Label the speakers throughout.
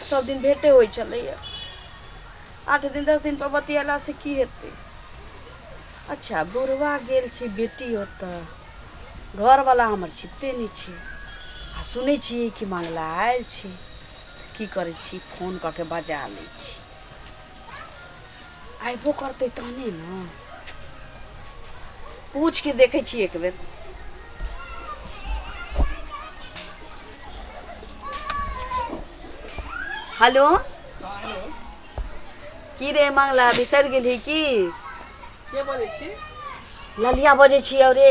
Speaker 1: सभ दिन भेटे होइ छलैए आठ दिन दस दिनपर बतिएलासँ की हेतै अच्छा बुढ़वा गेल छै बेटी ओतऽ घरवला हमर छिपते नहि छै आ सुनै छियै कि मंगला आयल छै की करै छी फोन कऽ के बजा लै छी अयबो करतै तहने ने पूछ के देखै छी एक बेर हेलो की रे मंगला बिसरि गेलही की के बजै
Speaker 2: छी ललिया
Speaker 1: बजै छी अरे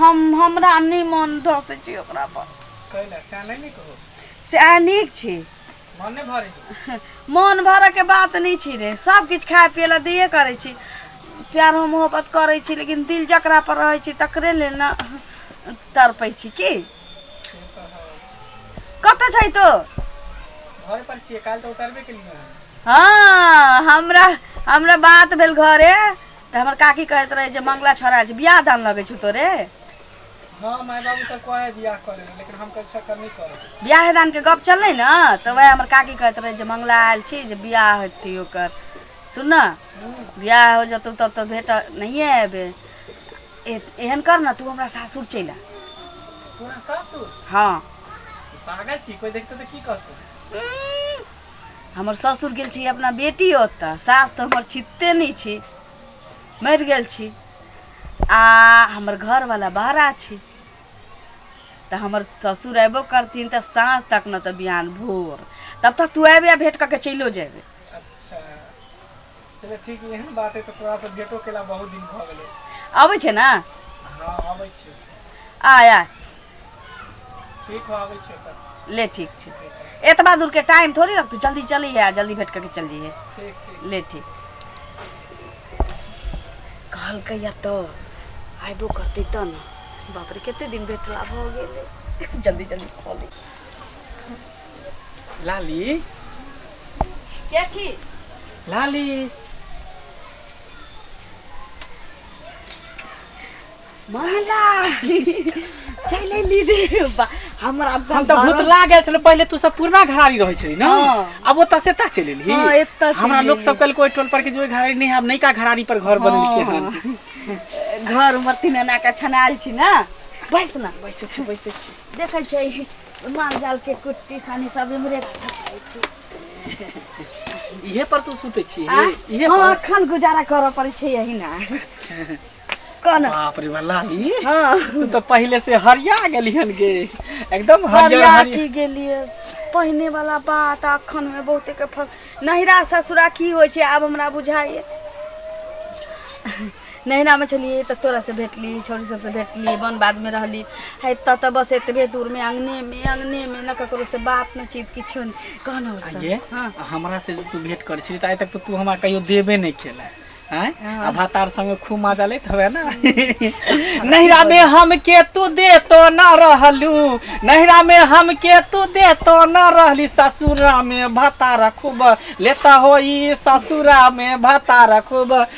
Speaker 1: हम हमरा नहि मन धसै छै ओकरा पर कैला
Speaker 2: सएह नहि नीक हो सएह नीक
Speaker 1: छै मन नहि
Speaker 2: भरै छै मोन भरयके
Speaker 1: बात नहि छै रे सब किछु खाय पियै लए दैए करै छी प्यार हम मोहब्बत करै छी लेकिन दिल जकरा पर रहै छै तकरे ले ने तड़पै छी की से तऽ हौ। कतऽ छै तो घर
Speaker 2: पर छियै काल्हि तऽ उतरबे केलियै हन हाँ
Speaker 1: हमरा हमरा बात भेल घरे तऽ हमर काकी कहैत रहै जे मंगला छोड़ा छै बियाह दान लगै छौ तोरे हँ माय बाबू सब कहै बियाह कऽ
Speaker 2: लेबै लेकिन हम कहै सकर नहि करब बियाह दानके गप
Speaker 1: चललै ने तऽ वएह हमर काकी कहैत रहै जे मंगला आयल छी जे बियाह हेतै ओकर सुन ने बियाह हो जेतौ तब तऽ भेट नहिए एबै एहन कर ने तू हमरा सासुर चलि आ तोरा सासुर
Speaker 2: हँ
Speaker 1: पागल
Speaker 2: छी कोई देखते तऽ की कहतौ
Speaker 1: हमर ससुर गेल छी अपना बेटी ओतऽ सास तऽ हमर छिते नहि छी मरि गेल छी आ हमर घरवला बहरा छी तऽ हमर ससुर अयबो करथिन तऽ साँझ तक ने तऽ बिहान भोर तब तक तू अयबे आ भेँट कऽ के चलिओ जेबे
Speaker 2: चल ठीक य एहन बात है तऽ तोरा से भेटो केला बहुत दिन भऽ गेलै अबै छै ने हँ
Speaker 1: अबै
Speaker 2: छियै आय आय ठीक हो अबै छियै तऽ ले ठीक छै
Speaker 1: एतबा दूरके टाइम थोड़ी रख तू जल्दी चली है जल्दी भेट करके चल जइहे ठीक ठीक ले ठीक कहलकै या तो आइबो करतै तऽ ने बाप रे कते दिन भेटला भऽ गेलै जल्दी जल्दी खोली
Speaker 2: लाली
Speaker 1: के छी लाली महिला चल अइली रे बा हमरा हम तऽ भूत लाग
Speaker 2: गेल छलो पहिले तू सब पुरना घरारी रहै छली ना हाँ। अब ओतऽ से ता चलि एलही हाँ, एतऽ चलि हमरा लोग एलही। सब कल कोई टोल पर के जो घरारी नहीं हम नयका घरारी पर घर बनेलके हन घर
Speaker 1: मरती नाना के छनाल छी ना बैस ना बैसे छी बैसे छी
Speaker 2: देखै छै
Speaker 1: माल जाल के कुट्टी सानी सब इमरे रखे छी
Speaker 2: इहे पर तू सुते छी इहे हां अखन
Speaker 1: गुजारा करऽ पड़ै छै यही ना कौन बाप रे वाला
Speaker 2: ली हां तू तो
Speaker 1: पहले से
Speaker 2: हरिया गेली हन गे एकदम हरियर हरिया की
Speaker 1: गेलिए पहिने वाला बात अखन में बहुते के फर्क नहिरा ससुरा की होय छै आब हमरा बुझाइए नैहरामे छलियै तऽ तोरासँ भेटली छौरी सबसँ भेटली बन बादमे रहली आ एतऽ तऽ बस एतबे दूरमे अङ्गनेमे अङ्गनेमे ने ककरोसँ बात नहि चीत किछो नहि कहना आगे हँ
Speaker 2: हमरा से जे तू भेंट कर छी आइ तक तो तू हमरा कहियो देबे नहीं खेला आय आ भातार संगे खूब मजा लेत हवे ना नैहरा में हम के तू दे तो ना रहलू नैहरा में हम के तू दे तो ना रहली ससुरा में भातार खूब लेता होई ससुरा में भातार खूब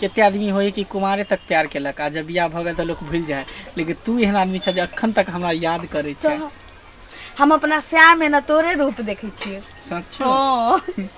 Speaker 2: कते आदमी होइए कि कुमारे तक प्यार केलक आ जब बियाह भऽ गेल तऽ लोक भूलि जाइ है लेकिन तू एहन आदमी छह जे अखन तक हमरा याद करै छै तो हम
Speaker 1: अपना श्याम एना तोरे रूप देखै छियै सच्चो हँ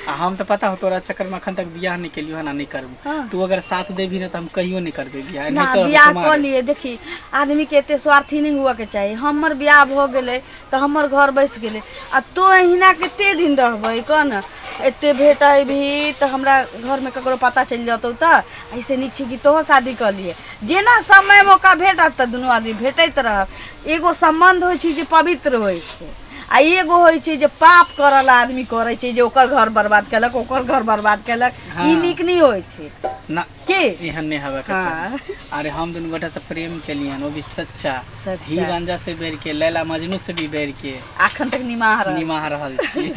Speaker 2: आ हम तऽ पता हो तोरा चक्कर में अखन तक बियाह नहीं केलियो हन आ नहीं करबू हाँ। तू अगर साथ
Speaker 1: देबी ना
Speaker 2: तो हम कहियो नहीं करबे बियाह ना नहीं तो बियाह कुमार कऽ लिए देखी
Speaker 1: आदमी के एते स्वार्थी नहीं हुआ के चाही हमर बियाह भऽ गेलै तऽ हमर घर बसि गेलै आ तो अहिना कते दिन रहबै कह ने एते भेट अयबी तऽ हमरा घरमे ककरो पता चलि जेतौ तऽ ऐसे नीक छै कि तोहो शादी कऽ लिए जेना समय मौका भेटत तऽ दुनू आदमी भेटैत रहब एगो सम्बन्ध होइ छै जे पवित्र होइ छै आ एगो होइ छै जे पाप करल आदमी करै छै जे ओकर घर बर्बाद केलक ओकर घर बर्बाद केलक ई नीक नहि होइ
Speaker 2: छै
Speaker 1: के
Speaker 2: एहन नहि
Speaker 1: हेबाक के
Speaker 2: चाही हाँ अरे हम
Speaker 1: दुनू
Speaker 2: गोटा तऽ प्रेम केलियन ओ भी सच्चा सच्चा। हीर रांझा
Speaker 1: से बैर
Speaker 2: के लैला मजनू से भी बैर के अखन तक निमाह रहल
Speaker 1: निमाह रहल छी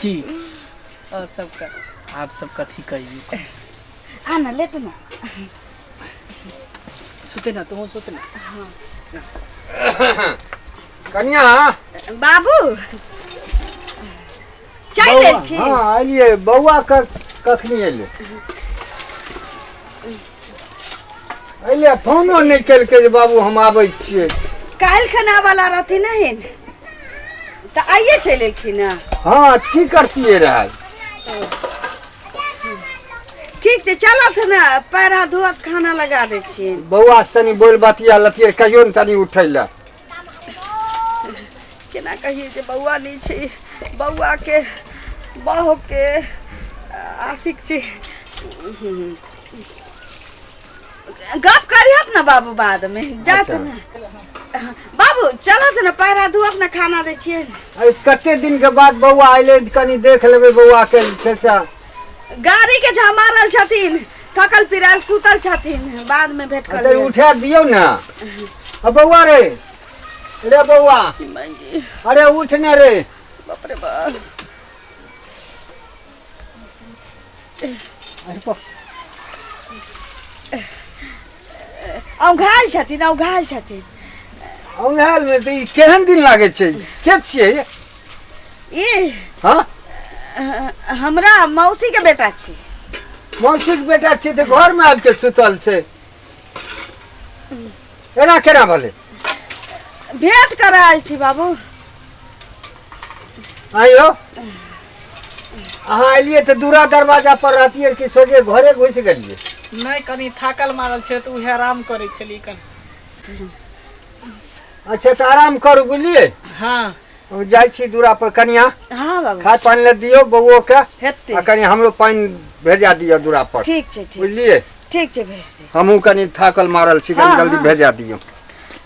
Speaker 2: की और
Speaker 1: सबके आप सब कथी
Speaker 2: कहियो आ ना
Speaker 1: ले तू ना
Speaker 2: सुते ना तुम सुते ना
Speaker 3: कनिया बाबू
Speaker 1: चाय बौआ लेलखिन हाँ एलिए
Speaker 3: बौआ क कखनी एले एले फोनो नहीं केलके जे बाबू हम आबै छियै काल्हि खना
Speaker 1: वाला रहथिन नहीं तऽ आइए चलि एलखिन ने हाँ की करतिए
Speaker 3: रहै
Speaker 1: ठीक छै चलत ने पैर हाथ धोअत खाना लगा दै छियै बौआ से तनी बोल
Speaker 3: बतिया लतिए कहियो ने तनी उठै लए
Speaker 1: केना कहिए जे बौआ नहि छै बौआके बहुके आशिक छै गप करिहत ने बाबू बादमे जात अच्छा। ने बाबू चलत ने पैरा धुअत ने खाना दै छियै ने अरे कते दिन
Speaker 3: के बाद बौआ अइले कनी देख लेबै बौआ के चचा गाड़ी
Speaker 1: के झमा रहल छथिन थकल पिराल सुतल छथिन बाद में भेंट कर अरे लेब। उठा दियो ना
Speaker 3: अब बउआ रे रे बउआ अरे उठ ना रे बाप रे
Speaker 1: बाप अरे बा- औंघायल छथिन औंघायल छथिन
Speaker 3: औंघायल में तो ई केहन दिन लागे छै के छियै ये?
Speaker 1: ई
Speaker 3: हाँ
Speaker 1: अ, हमरा मौसी के बेटा छी मौसी के
Speaker 3: बेटा छियै तऽ घर में आबि के सुतल छै एना केना भेलै
Speaker 1: भेंट कर आयल छी बाबू
Speaker 3: आइयो अहाँ एलियै तऽ दूरा दरवाजा पर रहतियै कि सोझे घरे घुस गेलियै नहीं कनी
Speaker 2: थाकल मारल छे तो उहे आराम करे छली कनी
Speaker 3: अच्छा तऽ आराम करू बुझलियै हाँ
Speaker 2: हम जाइ छी
Speaker 3: दूरा पर कनिया हाँ बाबू खाय पानि
Speaker 1: लए दियौ बौओ
Speaker 3: के आ हेतै कनि हमरो
Speaker 1: पानि
Speaker 3: भेजा दिअ दूरा पर ठीक छै ठीक बुझलियै
Speaker 1: ठीक
Speaker 3: छै भेज
Speaker 1: देब। हमहूँ कनि थाकल
Speaker 3: मारल छी कनि हाँ, जल्दी हाँ। भेजा दियौ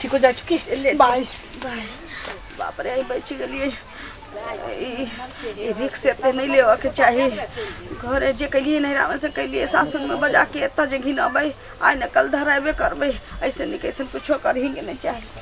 Speaker 1: ठीक हो जाइ छौ की ले
Speaker 2: बाय
Speaker 1: बाय बाप रे आइ बचि गेलियै ई ई रिक्स एते नहि लेबऽके चाही घरे जे केलियै नैहरामे से केलियै सासुरमे बजा के एतऽ जे घिनबै आइ ने कल धरेबे करबै ऐसे नहि कैसे कुछो करही के नहि चाही